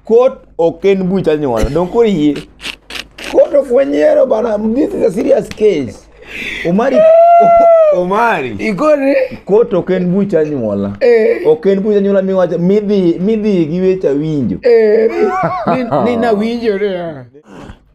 Kot ok en buch anyuola. Donge koro iyie? Kot ok wanyiero bana. This is a serious case. Omari Omari. Igore. Kot ok en buch anyuola. Eh. Ok en buch anyuola miwacho midhi midhi gi weche winjo. Eh. Ni ni na winjo re.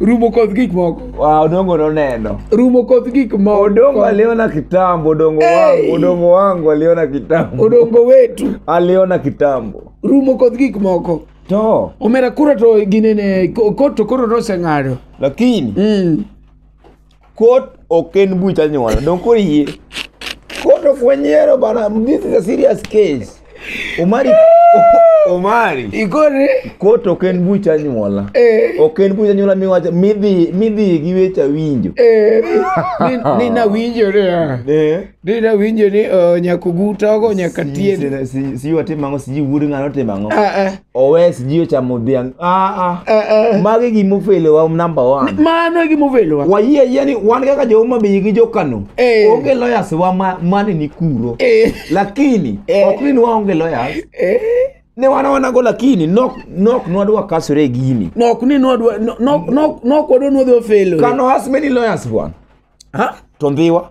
rumo koth gik moko Wa, odongo noneno rumo koth gik moko odongo aliona kitambo odongo Hey! wangu odongo wangu aliona kitambo odongo wetu aliona kitambo rumo koth gik moko to omera kura to ginene ko- koto koro noseng'ado lakini mm. Kot ok en buch anyuola. Donge koro iyie? Kot ok wanyiero bana. This is a serious case. Omari Omari. Igore. Kot ok en buch anyuola. Eh. Ok en buch anyuola miwacho midhi midhi gi weche winjo. Eh. Ni, ni na winjore. ah. Eh. ni nawinjo ni uh, nyakogutogo nyaka Si- tiende si- si- sijui watimo ang'o sijui wuod ng'ano otimo ang'o Ah, ah, owe sijui ochamo dhiang' Ah, ah. ah, ah. magi gimofelewa number one mano e gimovelowa wayie ayie ni wan kaka joma bei gi jokano Eh. onge lawyers wa ma- mane ni kuro Eh, lakini Eh. ok ni ni waonge lawyers eh. ne wan wanago lakini nok nok nwadwa kasore e gini nok ni nwadwa nok- nok- nok wadwa nwadwa felo kano has many lawyers bwana ha to ndhiwa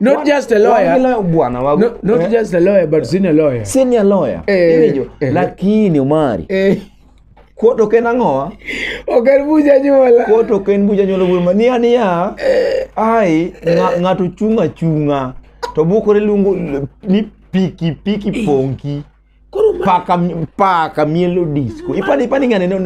not just a Wan gi lawyer lawyer bwana wago. not, not Eh, just a lawyer but senior lawyer senior lawyer. Eh, Iwinjo? eh. Lakini Omari, eh kuot ok en ang'owa? ok en bucha nyuola Kuot ok en bucha nyuolo bul ma niya niya. Ai, ng'a- ng'ato chung' achung'a to bukore luongo ni piki piki ponki. koro ma- paka paka mielo disco ipani ipani ngani no-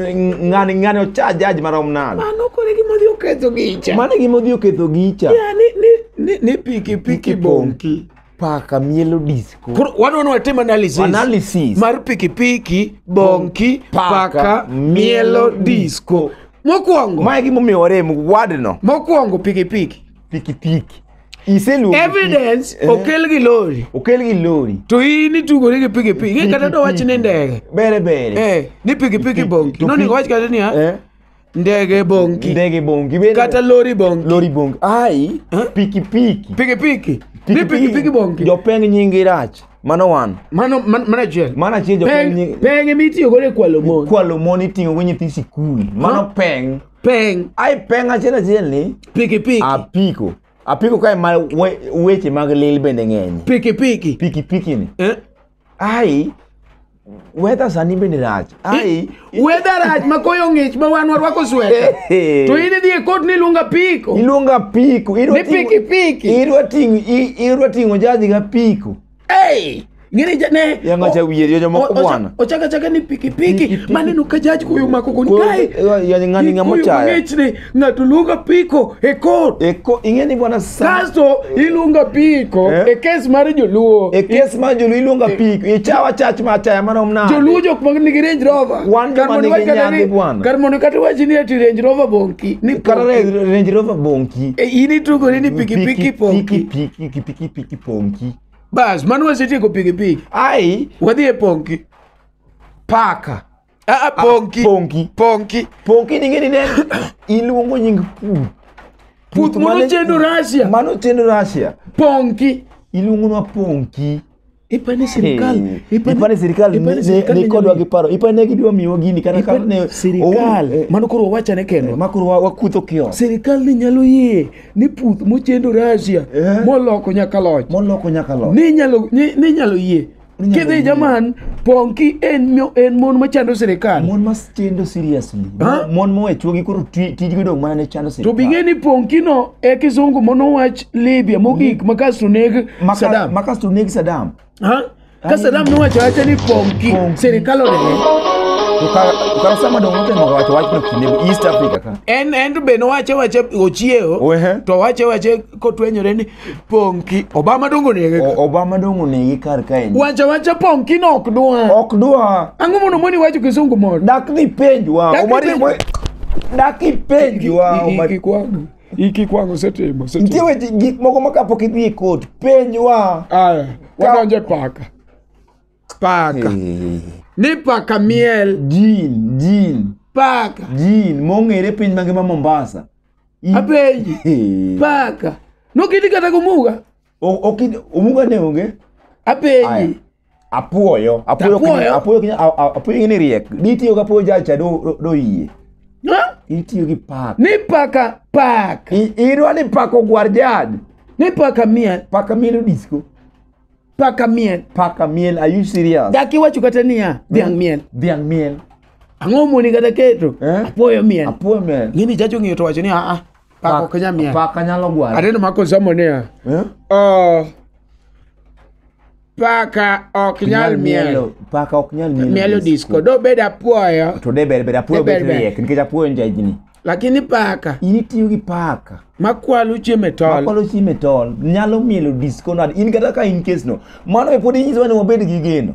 ngani ngani ocha jaj marom nade mano koro e gima odhi oketho gicha mano gima odhi oketho gicha Ya, ni- ni- ni- ni piki piki bonki paka mielo disco koro wadwa ni watim analysis analysis mar pikipiki bonki paka mielo disco mokwongo mae gimomiyo warem wadno mokwongo pikipiki pikipiki Iseluongo evidence Eh. okel gi lori okel gi lori to in itugori gi pikipiki Ing'e kata do wach ni ndege bere bere Eh, ni pikipiki bongi to nonego pi- wach kata niya Eh, ndege bongi ndege bongi bere kata lori bongi lori bongi ai Eh? pikipiki pikipiki ni pikipiki bongi jopeng nyingi rach mano wan mano man- mano achiel mano achiel jopeng Peng- nyingi peng ema itiyo godo e kwalo mon kwalo mon iting'o go nyithi sikul mano peng peng ai peng achiel achiel ni pikipiki apiko apiko kae ma we- weche mag lil bende ng'eny pikipiki pikipiki ni Eh? ai weather sani bende rach ai weather rach ma koyo ng'ich ma wan warwako sweta Ehe. to in idhi e kot ni luonga piko iluonga piko idwa Ni ting'o- pikipiki. idwa ting'o i- idwa ting'o jaji ga piko hey! ngine jane Yanga cha wiye, yo jomoko bwana. ochaka chaka ni pikipiki maneno ka jaj koyo mako kon Koyo, kae eh, yani ng'ani ng'ama Koyo ochaya. mang'ich ni ng'ato luonga piko e kot Eko ing'e ni bwana sa. kasto iluonga piko Eh? e kes mar joluo E kes ma jolu iluonga pik, ichawa chach ma achaya mano mna. joluo jok ma nigi range rover Wan Kar joma mondo nigi iwach kata nyadhi ni- bwana. kar mondo kata iwachi ni ati range rover bonki ni Kata ponki. Range Rover bonki. E, in itugori ni pikipiki ponki Piki piki piki piki ponki bas mano wasetieko pikipiki ai wadhi e ponki paka Ah, ah, ponki ponki ponki ponki ning'eni ne iluongo nying puth puth mano mane- chendo rasia mano chendo rasia ponki iluongonwa ponki ipani sirikal Hey, ipani sirikal ipani ne- sirikal ne- nikodwa gi paro ipani ne gidwa miwa gini kata kata ne sirikal mano koro wawachane kendo makoro wakutho kios sirikal ni nyalo yie ni puth mochendo Russia Eh. moloko nyaka loch Moloko nyaka loch. ninyalo ni- ninyalo yie Ninyalo kidhi yie. jaman ponki en mio- en mon machando sirikal Mon ma chendo seriously. Ha? Mon mowe chuogi koro ti- tijgi dong' mana ne chando to sirikal. bing'e ni ponkino e kisungu monowach libya mogik makasto neg Maka- sadam makasto neg Saddam. Ha? Kasa dam nowacho acha ni pongki Pongki. sirikal onene. ukarosama dongo temo wacho wachno kinde east africa ka En en to be nowache wache ochiewo. Wehe. To wache wache kotwenyore ni pongki. Obama dongo nege. O- obama dongo negi kar kae Wacha wacha pongki no ok dwa. ok dwa Ang'o mondo moni wacho kisungu moro? dak ni penjwa Dak ni Omari- penjwa. dak ipenjwa Omari- Kikwago. Iki kwangu setimo. setimo. nitie weche gik moko ma kapok idhi e kot penjwa Aya, wadonje paka. Paka. Ni paka miel. jin jin Paka. jin mong'ere piny mangima mombasa I- Apenji. Paka. Nokiti kata gomuga. O- okid- omuga ne onge Aya. apenyi apuoyo apuoyo Apuoyo? kiny- apuoyo kiny- a- a- apuoyo ing'e ni riek ditiyo ga apuoyo jacha do- do- doyie Ha? itiyo gi pak ni paka paka I- idwa ni pak ogwar jad ni paka miel paka miel odisko paka miel paka miel are you serious dak iwacho kata niya dhiang' miel dhiang' miel ang'o moni kata keto Eh? apuoyo miel apuoyo miel ng'ini jacho ng'iyo to wacho ni aa Pako ok nyal miel. Paka nyalo gwaro. Aneno mako somo niya. Eh? Oh, paka ok nyal miel. Paka ok nyal mielo. Mielo disco. Dobed apuoyo. To de ber ber apuoyo De ber bet ber. riek nikech apuoyo nja jini. Lakini paka In itiyo gi paka. makwalo chiemo e tol. Makwalo chiemo e tol. Nyalo mielo disco nade. In kata ka in case no. Mano be pod inyisowa ni wabed gi geno.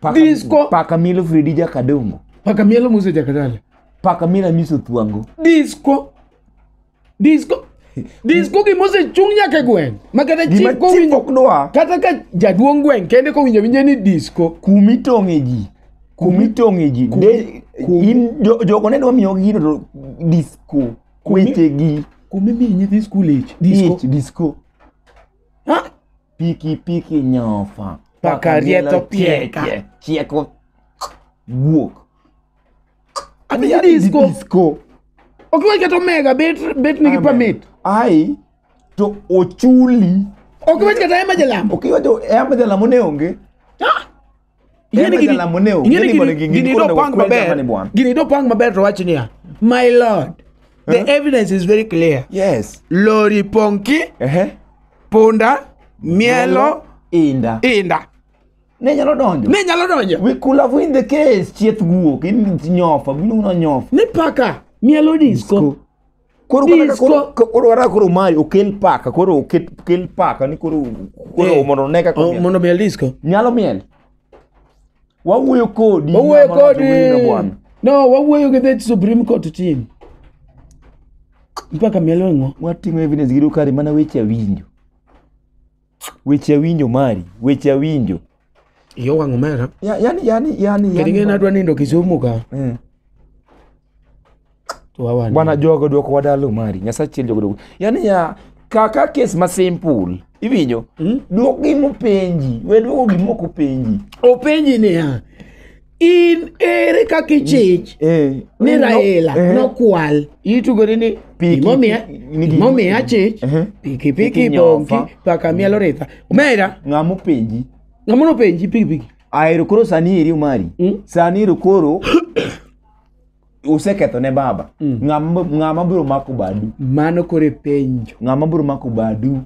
Paka- Disco. paka milo fredi jakadongo paka mielo muse jakadala paka mila miso thuango disco disco disco gimosechung nyaka e gweng ma kata gima chik kowinjo chikok dwa kata ka jaduong' gweng' kende kowinjo winje ni disco kumi tong'e ji kumi tong'e ji Kumi- De- kumi. in jo- jogo ne dwa miyo gino to disco Kumi. wechegi kumimiyi nyithi skul ich disco ich disco Ha? piki piki nyofa Pakarieto pieka. pieka, chieko wuok Adhi Adhi adhi disco. disco Ok iwe keto mega bet bet nigi Amen. permit. ai to ochuli Ok iwe keto ema jalambo. ok iwacho ema jalamo ne onge Ing'eni gini- jalamo ne o, ing'eni ing'eni gini- gini- gini gini dopang onego kwed jamani maber bwana. gini dopang maber to wach niya my lord the Huh? evidence is very clear yes lori ponki ehe punda mielo inda inda ne nyalo donjo ne nyalo donjo we could have win the case chieth guok in nyofa biluno nyofa ni paka mielo disco Koro kata ka Disco. koro ka- koro kata koro mae okel paka koro oket kel paka ni koro koro Eh. mondo ne kaka O, omiel. mondo miel disco nyalo miel. Wawuoyo kodi. wawuoyo ng'ama wacho wendo kodi bwana. no wawuoyo gi the supreme court team mpaka mielo ng'o Watimo evidence gi dokari mana weche awinjo. weche awinjo mari weche awinjo Iyo wang' omera. Ya- yani yani yani Kendo yani- ng'e adwa nindo Kisumu ka. Eh. To awan. bwana jogo dwoko wadalo mari nyasaye chiel jogo dwoko yani ya kaka kes ma simple iwinjo dwok gima openji we dwoko gima ok openji Openji niya. in ere kaka ichich Eh, ni no- raila eh, nokwal itugori ni Piki- gimomiya ni gi- gimomiya achich Ehe. pikipiki Piki bonki nyofa. paka mielo ritha omera ng'a mopenji ng'ama nopenji pikipiki ahero koro sani eri omari Mm. sani ero koro useketho ne baba Ng'a ma- ng'a mabiro mako badu mano koro e penjo ng'a mabiro mako badu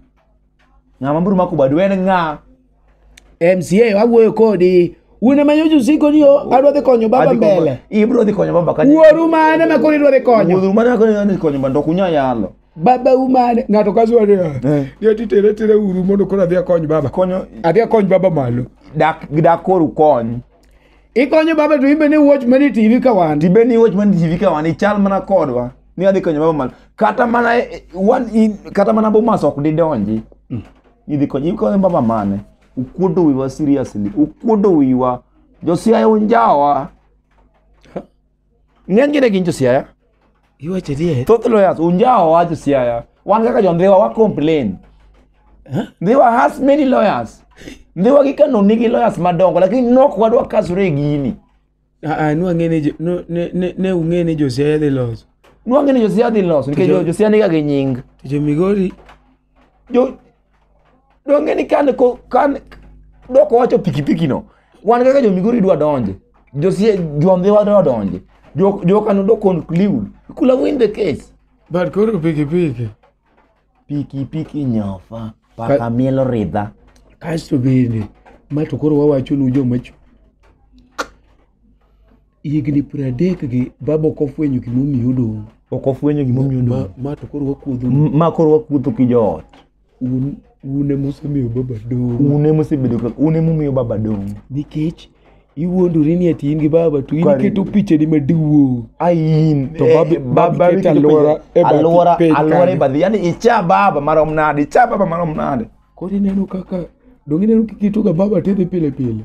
ng'ama biro mako badu en ng'a mca wawuoyo kodi un ema nyocha usiko ni o- adwa dhi konyo baba Adhi konyo- mbele ibiro dhi konyo baba kanye wuoru mane ma koro idwa dhi konyo wuoru mane koro idwa dhi konyo baba ndok unya yalo baba u mane ng'ato kasuwa ni Eh. yo titere tere uru mondo koro adhi akony baba konyo adhi akony baba malo dak dak koro kony Ikonyo baba to imbe ni watch mani TV ka wan. tibe ni watch man tv ka wan ichal mana kodwa ni adhi konyo baba mal kata mana eh, wan in- kata mana bomas ok didonji idhi konyo ikonyo baba mane ukuodo wiwa seriously ukuodo wiwa josiaya unjawa Ng'eny gine gin josiaya. Iwacho adier. Thoth lawyers unjawo wa josiaya. Wan kaka jondhiwa wa complain. Ndhiwa has many lawyers. Ndhiwa gi Kano nigi lawyers madongo lakini nok wadwa kasore e gini. Ah, ah, nwa ng'e ni jo- no- ne- ne- ne ung'e ni josiaya dhi loso Nwang'e ni josiaya dhi loso nikech Jo- josiaya niga gi nying. to jo migori Jo- donge ni kan ko kan dok owacho pikipiki no wan kaka jo migori dwa donje josie jombe wa dwa donje jo jo kanu do conclude kula win the case But koro pikipiki. pikipiki nyofa paka Ka- mielo ridha Kasto bende ma to koro wawachonu joma chu. higni piero adek gi baba ok ofwenyo gimomiyo odong' ok ofwenyo gimomiyo ma, odong' ma to koro wakuodho M- ma koro wakuotho ki joot un un ema usemiyo baba dong' un ema osebedo ka un ema umiyo baba dong' nikech iwuondori ni ati in gi baba to in Kare. iketo pichani maduong' ain To eh, babi- baba babi keto iketo alwora piny- e bathi alwora piny alwora e kanyo. bathi yani icha baba marom nade icha baba marom nade koro ineno kaka dong' ineno kiketoga baba tedhi pile pile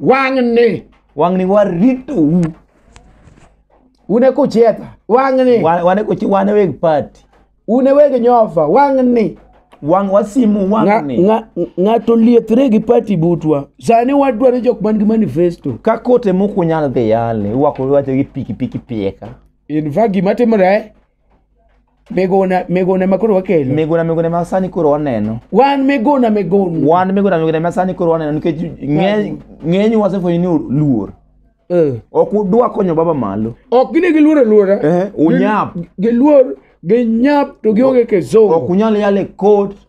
wang'ni wang'ni waritou un e kuchietha wang'ni Wa- wane kochi wane weg party un e weg nyofa wang'ni wang wasimu Nga- wang'ni nga- ng'ato liethre gi pati butwa sani wadwaro jok man gi manifesto ka kote mokunyal dhi yale iwako iwacho gi pikipiki pieka in fact gima timore megona megona ema koro wakelo miguna miguna ma sani koro waneno wan megona megona wan miguna miguna ma sani koro waneno nikech ng'eny- ng'eny wasefwenyo ni luor Eh. ok udwa konyo baba malo ok gine giluor aluora Eh, unyap. Gi- giluor ginyap to gionge ok kizungu unyal yale kot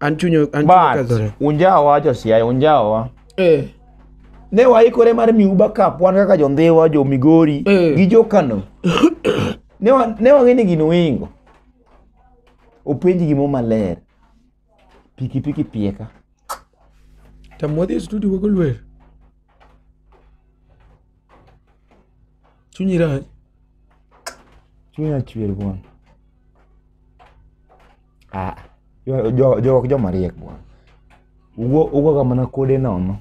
An chunyo an chunyo But kazore. unjawa josiaya unjawa Eh. ne waikore mar miu backup wan kaka jondhiwa jo migori Eh. gi jo kano ne wa- ne wang'e ni gini wingo openji gimo maler pikipiki pieka Tamodhi e studio wago lwer. Chunyi rach. chunya chwer bwana Ah, jo- jo- jo- ok joma riek bwana. Ugo ugo kama na kode nono.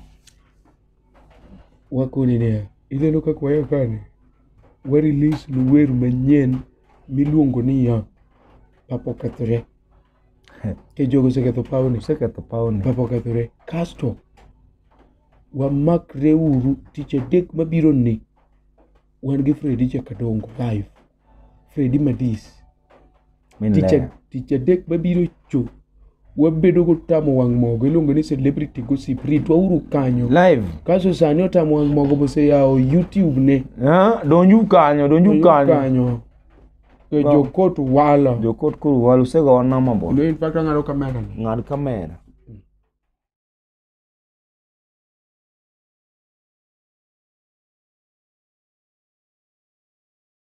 wakoni niya ineno kaka wayo kani warelease nu wer manyien miluongo ni ya papa okethore ke jogo oseketho pawni Seketho pawni. papa okethore kasto wamakre uru tich adek mabiro ni wan gi fredi chakadongo live fredi madis tic adek ma biro co wabedo gotamo wang' mogo iluongo ni celebrity gossip ritwa uru kanyo live kaso sani otamo wang' mogo boseyawo youtube ne ah, donju kanyo donju kanyo e jokot walo jokot koro walo usegowa namba bo no in fact ang'ado kamera ng'ad kamera